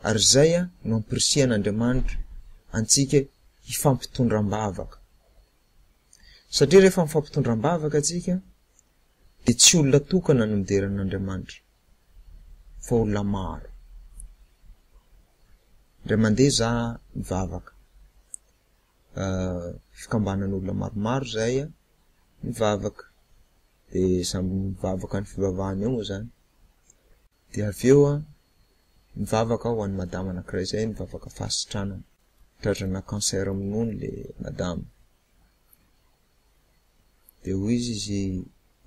ary izay no ampirisihanaNdriamanitra antsika hifampitondra am-bavaka. Satria rehefa mifampitondra am-bavaka antsika dia tsy olona tokana no midera an'Andriamanitra fa olona maro. Indray mandeha za mivavaka. Fikambanan'olona maromaro izay mivavaka. Dia samy mivavaka ny fivavahany ao moa izany. Dia avy eo an, nivavaka aho ho an'i madama anankiray izay, nivavaka fahasitranana. Drazana cancer amin'ny nono ilay madama. Dia hoy izy izy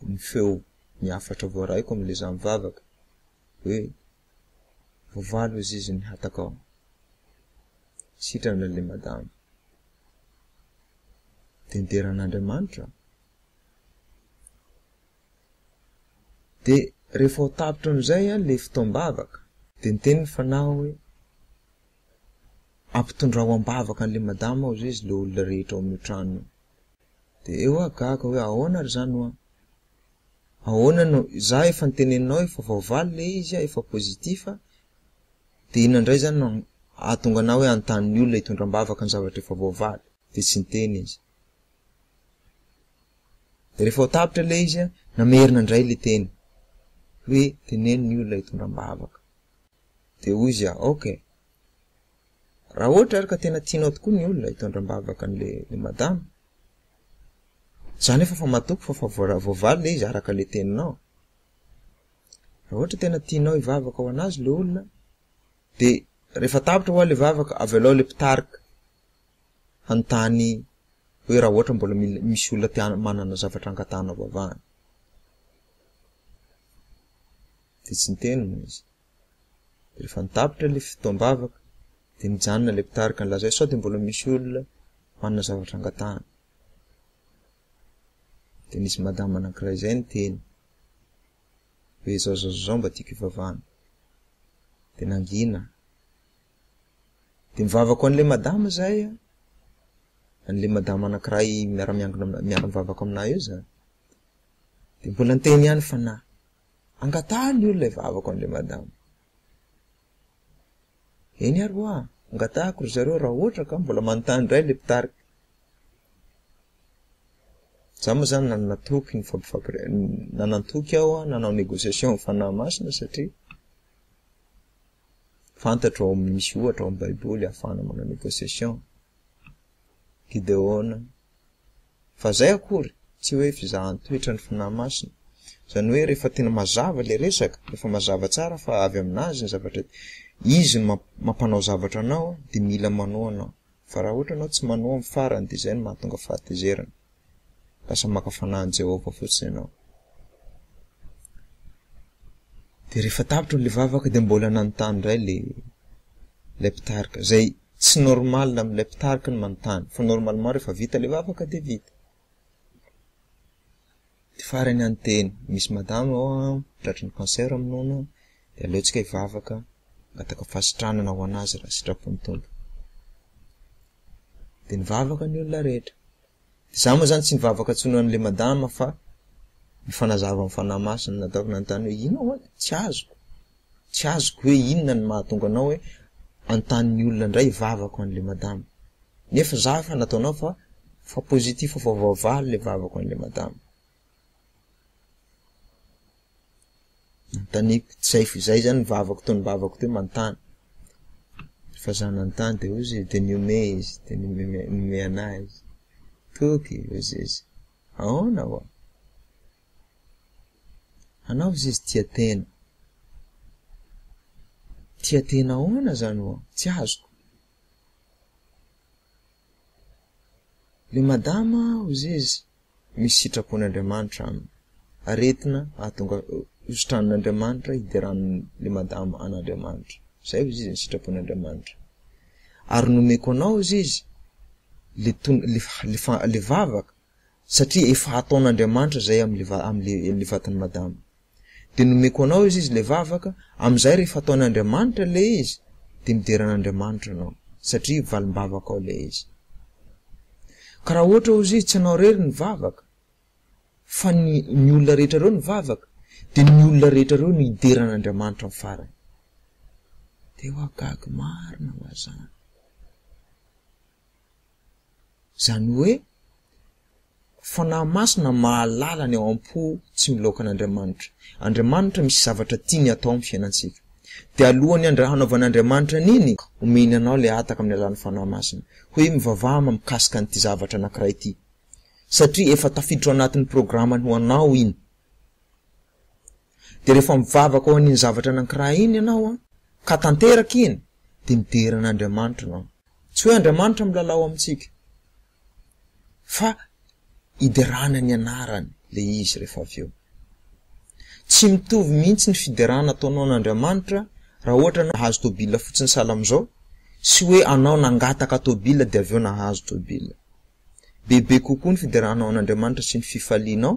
ny feo ny hafatra voarahiko amin'ilay izaho mivavaka, hoe voavalo hoy izy izy ny hatakao. Sitrana ilay madama. Dia nidera an'Andriamanitra aho. Dia rehefa ho tapitra amin'izay ilay fotoam-bavaka dia niteny ny Fanahy hoe, Ampitondrao am-bavaka an'ilay madama ao izay izy ilay olona rehetra ao amin'io trano io. Dia eo aho gaga hoe ahoana ary izany hoa? Ahoana no, izaho efa noteneninao efa voavaly ilay izy, efa positif, dia inona indray izany no hahatonga anao hoe hanontany ny olona hitondra am-bavaka ny zavatra efa voavaly? Dia tsy niteny izy. De rehefa ho tapitra le izy a, namerina indray le teny hoe teneno ny olona hitondra am-bavaka. De hoy izy a, ok, raha ohatra ary ka tena tianao tokoa ny olona hitondra am-bavaka an'le le madama, za nefa efa matoky fa efa voara- voavaly le izy araka le teninao, raha ohatra tena tianao hivavaka ho an'azy le olona de rehefa tapitra hoa le vavaka, avelao le mpitarika. hanontany hoe raha ohatra mbola mila misy olona te manana zavatra angatahana vavahana. Dia tsy niteny moa izy. Dia rehefa nitapitra ilay fotoam-bavaka dia nijanona ilay mpitarika nilaza hoe sao dia mbola misy olona manana zavatra angatahana. Dia nisy madama anankiray izay niteny hoe izao izao izao mba tiako hivavahana. Dia nangina Dia mivavaka ho an'ilay madama izahay an, an'ilay madama anankiray miara-miangona aminà- miara-mivavaka aminà eo izany. Dia mbola niteny ihany ny fanahy. Angataha ny olona hivavaka ho an'ilay madama. Eny ary hoa, angatahako ry zareo raha ohatra ka mbola manontany indray ilay mpitarika. Izaho moa izany nanatoky ny fampifampiresahana, nanatoky aho hanao négociation amin'ny fanahy masina satria, Fantatro ao amin'ny misy ohatra ao amin'ny Baiboly ahafahana manao négociation. Gideona. Fa izay akory, tsy hoe fizahan-toetra ny fanahy masina. Izany hoe rehefa tena mazava ilay resaka, rehefa mazava tsara fa avy amin'azy ny zavatra, izy no mampanao zavatra anao dia mila manohana Fa raha ohatra ianao tsy manoa amin'ny farany, dia izay no mahatonga fahatezerana. Lasa maka fanahy an'i Jehovah fotsiny ianao. Dia rehefa tapitra ilay vavaka, dia mbola nanontany indray ilay mpitarika, izay tsy normal amin'ilay mpitarika ny manontany, fa normalement rehefa vita ilay vavaka dia vita. Dia farany any dia misy madama ao an, tratry ny cancer ny nono, dia aleontsika hivavaka hangataka fahasitranana ho an'azy raha sitrapon'ny Tompo. Dia nivavaka ny olona rehetra. Dia izaho moa izany tsy nivavaka intsony ho an'ilay madama fa nifanazava amin'ny Fanahy Masina nataoko nanontany hoe inona ho'a tsy azoko? tsy azoko hoe inona ny mahatonga anao hoe antanin'ny olona indray vavako an'ilay madama. Nefa za efa nataonao fa fa positif efa voavaly ilay vavako an'ilay madama. Nanontaniako tsy zay f'izay izany ny vavako teo ny vavako teo manontany. Rehefa za nanontany dia hoy izy dia nihomehy izy dia nihomehy an'ahy izy. Toky hoy izy, ahoana ho'a? Hanao izy izy tia tena. Tia tena ahoana zany oa? Tsy azoko. Le madama hozy izy misy sitrapon'Andriamanitra aminy. Aretina ahatonga hositran'Andriamanitra hideran'le madama an'Andriamanitra. Zay hozy izy ny sitrapon'Andriamanitra. Ary nomeko anao hozy izy le tona le fa le fa le vavaka satria efa hataon'Andriamanitra izay amin'ilay vatan'i Madama. Dia nomeko anao izy izy ilay vavaka, amin'izay rehefa ataon'i Andriamanitra ilay izy dia midera an'Andriamanitra ianao, satria valim-bavakao ilay izy. Ka raha ohatra hozy izy tsy ianao irery ny vavaka, fa ny ny olona rehetra ireo ny vavaka, dia ny olona rehetra ireo no hidera an'Andriamanitra amin'ny farany. Dia hoa gaga marina hoa izany. Izany hoe, fanahy masina mahalala ny ao am-po tsy milaoka an'Andriamanitra. Andriamanitra misy zavatra tiany atao amin'ny fiainantsika. Dia alohan'ny handra hanaovan'Andriamanitra an'iny, omeny anao ilay hataka amin'ny alalan'ny fanahy masina, hoe mivavaha ma mikasika an'ity zavatra anankiray ity. Satria efa tafiditra ao anatin'ny programany ho anao iny. Dia rehefa mivavaka ho an'iny zavatra anankiray iny ianao, ka tanteraka iny, dia midera an'Andriamanitra ianao. Tsy hoe Andriamanitra milalao amintsika, fa iderana ny anarany ilay izy rehefa avy eo. Tsy mitovy mihitsy ny fiderana ataonao an'Andriamanitra raha ohatra ianao nahazo tôbila fotsiny sahala amin'izao, sy hoe anao nangataka tôbila dia avy eo nahazo tôbila. Bebe kokoa ny fiderana ao an'Andriamanitra sy ny fifalianao,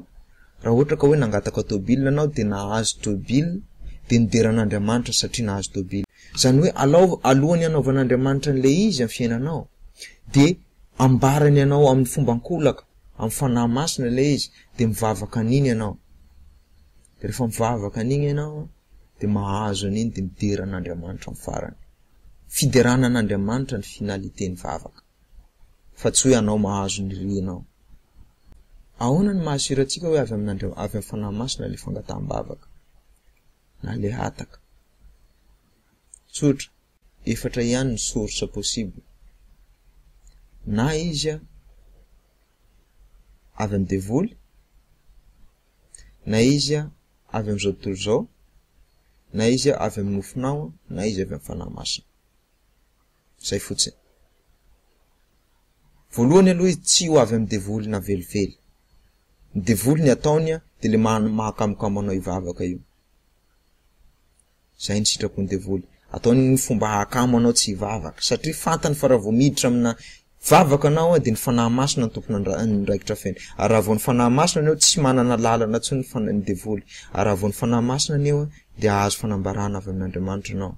raha ohatra ka hoe nangataka tôbily ianao dia nahazo tôbily dia nidera an'Andriamanitra satria nahazo tôbily. Izany hoe alaova, alohan'ny hanaovan'Andriamanitra an'ilay izy amin'ny fiainanao dia ambarany anao amin'ny fomba ankolaka, amin'ny Fanahy Masina ilay izy dia mivavaka an'iny ianao. Dia rehefa mivavaka an'iny ianao dia mahazo an'iny dia midera an'Andriamanitra amin'ny farany. Fiderana an'Andriamanitra ny finalitén'ny vavaka. fa tsy hoe anao mahazo ny renao. Ahoana no mahasirantsika hoe avy amin'Andriamanitra, avy amin'ny Fanahy Masina ilay fangataham-bavaka na ilay hataka? Tsotra, efatra ihany ny source possible, na izy avy amin'ny devoly, na izy avy amin'izao tontolo izao, na izy avy amin'ny nofinao, na izy avy amin'ny Fanahy Masina. Zay fotsiny. Voalohany aloha izy tsy ho avy amin'ny devoly na velively. Ny devoly ny ataony dia le mahakamokamo anao hivavaka io. Zay ny sitrapon'ny devoly. Ataony ny fomba hahakamo anao tsy hivavaka satria fantany fa raha vao miditra amina vavaka anao dia ny fanahy masina ny tompon'andraikitra feno. Ary raha vao ny fanahy masina ny eo tsy manana lalana intsony ny fanahy ny devoly. Ary raha vao ny fanahy masina ny eo dia hahazo fanambarana avy amin'Andriamanitra ianao.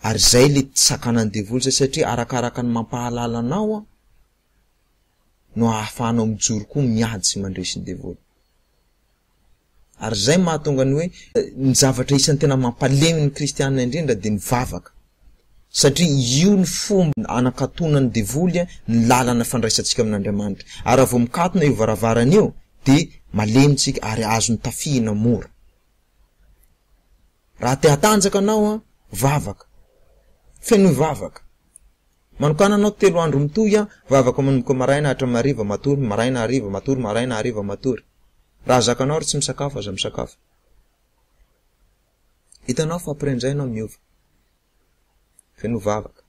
Ary zay le sakanan'ny devoly zay satria arakaraka ny mampahalala anao an no ahafahanao mijoro koa miady sy mandresy ny devoly. Ary zay mahatonga ny hoe ny zavatra isan'ny tena mampalemy ny kristiana indrindra dia ny vavaka satria io ny fomba anakatonan'ny devoly an ny lalana fandraisantsika amin'Andriamanitra. Ary raha vao mikatona io varavarana io dia malemy tsika ary azony tafihina mora. Raha te hatanjaka anao an, vavaka. Fenoy vavaka. Manokana anao telo andro mitohy an, vavaka manomboka maraina hatramin'ny hariva matory, maraina hariva matory, maraina hariva matory. Raha zakanao ary tsy misakafo, aza misakafo. Hitanao fa après an'izay ianao miova. Fenoy vavaka.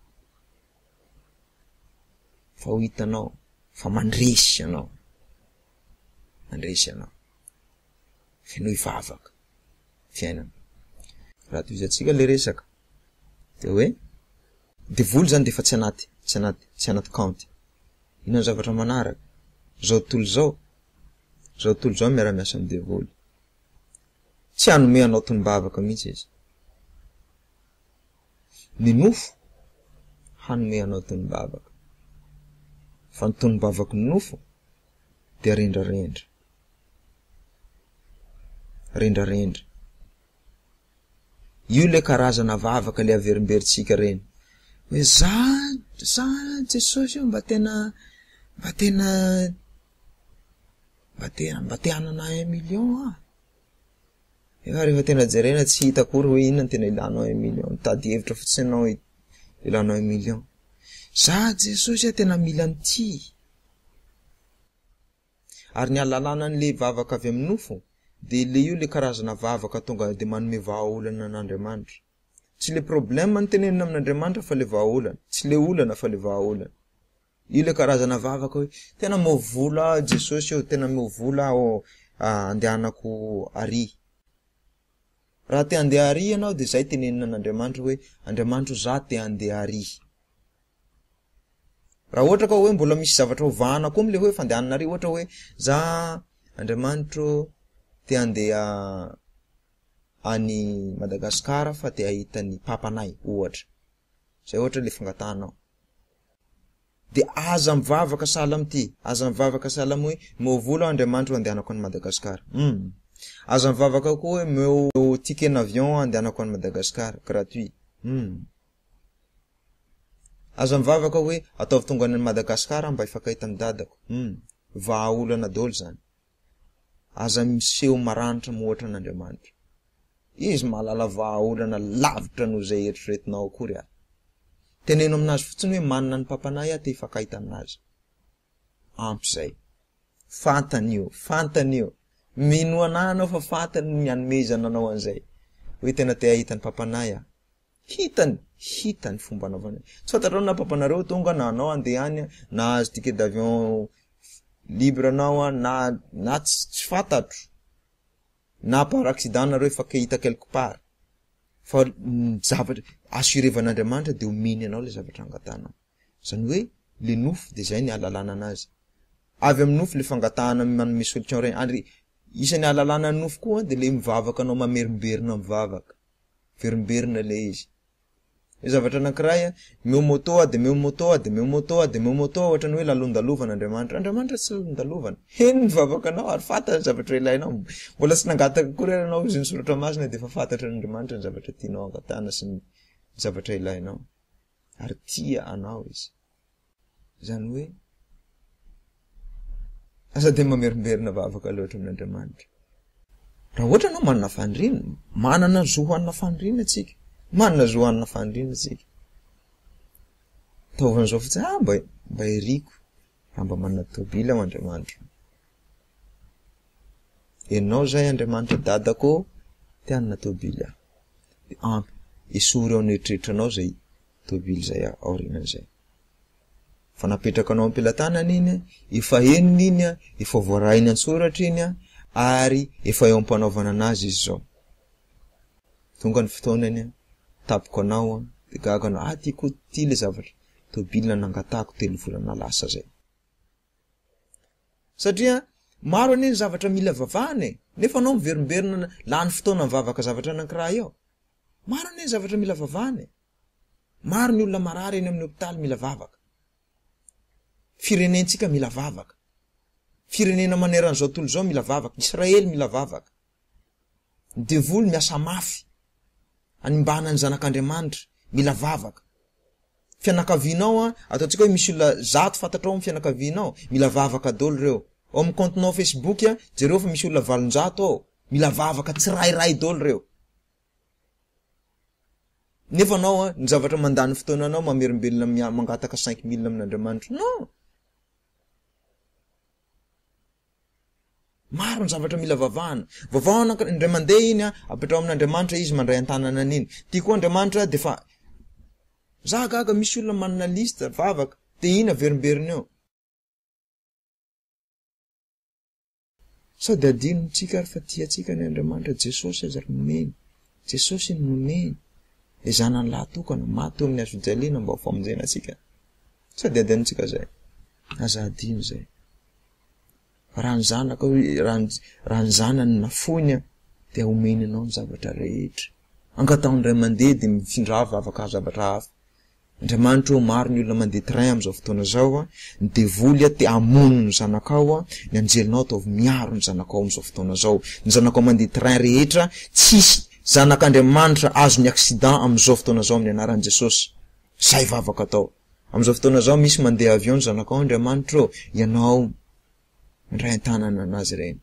Fa ho hitanao fa mandresy ianao. Mandresy ianao. fenoy vavaka fiainana raha tohiza tsika le resaka de hoe de voly zany defa tsy anaty tsy anaty tsy anaty kaonty ino ny zavatra manaraka zao tontolo zao zao tontolo zao miara miasa am devoly tsy hanome anao tombavaka mihitsy izy ny nofo hanome anao tombavaka fa ny tombavaka ny nofo de rendrarendra rendrarendra. Io le karazana vavaka le averimberintsika reny. Hoe za za Jesosy io mba tena mba tena mba te mba te hanana un million aho. Efa rehefa tena jerena tsy hita akory hoe inona tena ilanao un million. Mitady hevitra fotsiny ianao ilanao un million. Za Jesosy a tena mila an'ity. Ary ny alalana an'ilay vavaka avy amin'ny nofo dia ilay io ilay karazana vavaka tonga dia manome vahaolana an'Andriamanitra. Tsy ilay problème no tenenina amin'Andriamanitra fa ilay vahaolana. Tsy ilay olana fa ilay vahaolana. Io ilay karazana vavaka hoe tena meo vola aho Jesosy eo, tena meo vola aho andehanako ary. Raha te handeha ary ianao dia izay tenenina an'Andriamanitra hoe Andriamanitra o za te handeha ary. Raha ohatra ka hoe mbola misy zavatra ho vahana koa amin'ilay hoe fandehananareo, ohatra hoe za Andriamanitro te handeha any Madagascar fa te hahita ny papanay ohatra, zay ohatra ilay fangatahanao, de aza mivavaka sahala amin'ity, aza mivavaka sahala amin'ny hoe omeo vola aho Andriamanitro handehanako any Madagascar, hum, aza mivavaka koa hoe omeo ticket n'avion handehanako any Madagascar gratuit, hum. Aza mivavaka hoe ataovy tonga any Madagascar aho mba hifakahita amin'ny dadako. Hum. Vaha olana daholo zany. Aza miseho maranitra moa ohatra an'Andriamanitra. Izy mahalala vaha olana lavitra noho izay eritreretinao akory ary. Teneno aminazy fotsiny hoe manana ny Papanahy aho te hifakahita aminazy. Ampy izay. Fantany io. Fantany io. Minoa anah anao fa fantany ny hanomezana anao an'izay. Hoe tena te hahita ny Papanahy aho. Hitany, hitany fomba anaovany hoe, tsy fantatrao na papanareo tonga na anao andeha any a, na azo ticket d'avion libre anao a, na, na ts, tsy fantatro, na par accident nareo efa hita quelque part, fa ny zavatra, assurevan'Andriamanitra de omeny anao le zavatra angatanao, zany hoe le nofo de zay ny ahalalana anazy, avy amin'ny nofo le fangatahana manome solution reny, ary isan'ny ahalalana ny nofo koa de le mivavaka anao mamerimberina mivavaka. Miverimberina ilay izy. Misy zavatra anankiray an, meo moto a, dia meo moto a, dia meo moto a, dia meo moto a, ohatran'ny hoe lalondalovana Andriamanitra. Andriamanitra tsy lalondalovana. Heno ny vavakanao ary fantany ny zavatra ilainao. Mbola tsy nangataka akory ary ianao izy ny soratra masina dia efa fantatr' Andriamanitra ny zavatra tianao hangatahana sy ny zavatra ilainao. Ary tia anao izy. Izany hoe aza dia mamerimberina vavaka loatra amin'Andriamanitra. Raha ohatra ianao manana faniriana, manana ny zo hanana faniriana isika. Manana zo hanana faniriana isika. Ataovy an'izao fotsiny, ah mba mba iriko raha mba manana tôbily aho Andriamanitra. Ianao izay Andriamanitra dadako te hanana tôbily aho. Dia ampy esory ao an'eritreritranao izay tobily izay aorianan'izay. Efa napetraka anao am-pelatanana iny, efa henony iny, efa voarahiny an-tsoratra iny ary efa eo am-panaovana anazy izy izao. Tonga ny fotoanany, tapoko anao, dia gaga anao, ah ty koa ty ilay zavatra, tobily nanangatahako telo volana lasa izay. Satria maro anie ny zavatra mila vavahana e, nefa anao miverimberina lany fotoana mivavaka zavatra anankiray eo. Maro anie ny zavatra mila vavahana e! Maro ny olona marary eny amin'ny hopitaly mila vavaka. Firenentsika mila vavaka. Firenena maneran'izao tontolo izao mila vavaka. Israely mila vavaka. Ny devoly miasa mafy hanimbana ny zanak'Andriamanitra. Mila vavaka. fianakavianao an, ataontsika hoe misy olona zato fantatrao ao amin'ny fianakavianao, mila vavaka daholo ireo. Ao amin'ny kaontinao Facebook an, jereo fa misy olona valonjato ao, mila vavaka tsirairay daholo ireo. Nefa anao an, ny zavatra mandany fotoana anao, mamerim-belona mangataka cinq mille amin'Andriamanitra. Non! Maro ny zavatra mila vavahana. Vavahana ank- indray mandeha iny an, apetraho amin'Andriamanitra izy mandray an-tanana an'iny. Ty koa Andriamanitra dia efa Za gaga misy olona manana liste vavaka de iny averimberina eo. Sao de adinontsika ary fa tia antsika anie Andriamanitra, Jesosy aza ry nomeny, Jesosy iny nomeny, le zanany lahy tokana, maty teo amin'ny hazojaliana mba ho famonjena antsika. Sady adino tsika zay. Aza adino zay. Raha ny zanaka raha ny zanany nafoiny an dia omeny anao ny zavatra rehetra. Angataho ny ray aman-deny dia mifindra vavaka zavatra hafa. Andriamanitra ô maro ny olona mandeha train amin'izao fotoana izao an, ny devoly an te hamono ny zanakao an, ny anjelinao ataovy miaro ny zanakao amin'izao fotoana izao. Ny zanakao mandeha train rehetra tsisy zanak'Andriamanitra azon'ny accident amin'izao fotoana izao amin'ny anaran'i Jesosy. Izay vavaka atao. Amin'izao fotoana izao misy mandeha avion ny zanakao Andriamanitra ô, ianao mandray an-tanana anazy ireny.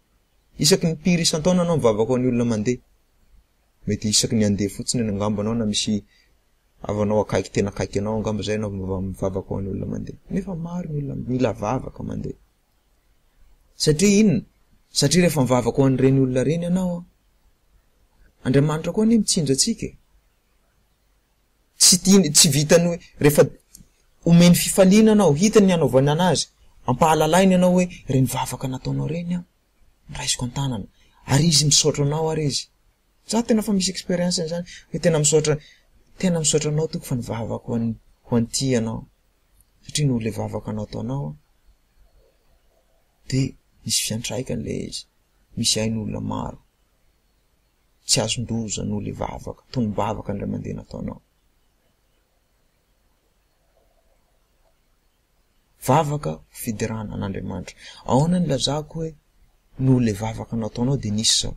Isaky ny impiry isan-taona anao mivavaka ho an'ny olona mandeha. Mety isaky ny handeha fotsiny any angamba anao na misy havanao akaiky tena akaiky anao angamba izay anao vao mivavaka ho an'ny olona mandeha. Nefa maro ny olona mila vavaka mandeha. Satria inona? Satria rehefa mivavaka ho an'ireny olona ireny ianao, Andriamanitra koa anie mitsinjo antsika e. tsy tiany, tsy vitany hoe rehefa omeny fifaliana anao, hitany ny hanaovany anazy, ampahalalainy anao hoe ireny vavaka nataonao ireny aho no raisiko an-tanana, ary izy misaotra anao ary izy. Izaho tena efa misy expérience an'izany hoe tena misaotra tena misaotra anao tompoko fa nivavaka ho an'i ho an'ity ianao satria noho ilay vavaka nataonao aho dia nisy fiantraikany ilay izy, misy ahy ny olona maro. tsy azon-doza noho le vavaka, tonom-bavaka indray mandeha nataonao. Vavaka fiderana an'Andriamanitra. Ahoana no ilazako hoe noho le vavaka nataonao dia nisy zao?